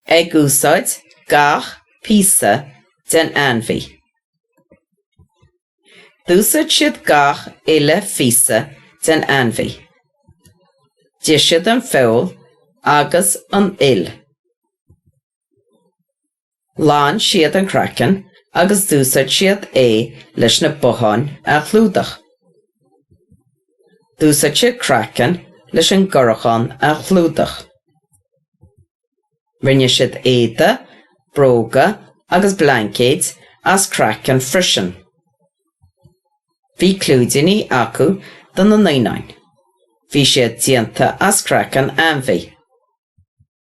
ag úsáid gach píosa den ainmhí. D'úsáid siad gach uile phíosa den ainmhí. D'ith siad an feoil agus an fhuil. Ghlan siad an craiceann agus d'úsáid siad é leis na botháin a chlúdach. D'úsáid siad craiceann leis an gcorachán a chlúdach. Rinne siad éide, bróga agus blaincéid as craiceann freisin. Bhí clúidíní acu do na naoináin. Bhí siad déanta as craiceann ainmhí.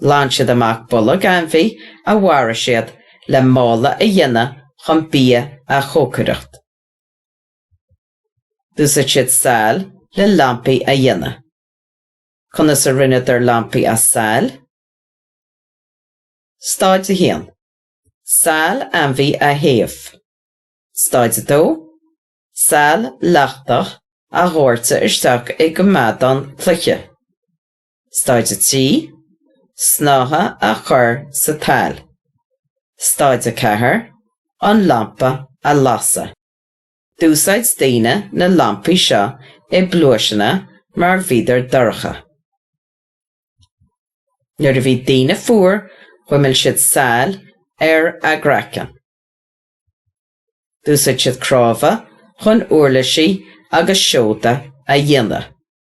Ghlan siad amach bolg ainmhí a mharaigh siad le mála a dhéanamh chun bia a chócaireacht. D'úsáid siad saill le lampaí a dhéanamh. Conas a rinneadar lampaí as saill? Stáid 1. Saill ainmhí a théamh. Stáid 2. Saill leachtach a dhóirteadh isteach i gcoimeádán cloiche. Stáid 3, Snáithe a chur sa tsaill. Stáid 4, An lampa a lasadh. D'úsáid daoine na lampaí seo i bpluaiseanna mar bhíodar dorcha. Nuair a bhí daoine fuar chuimil siad saill ar a gcraiceann. D'úsáid siad cnámha chun úirlisí agus seoda a dhéanamh.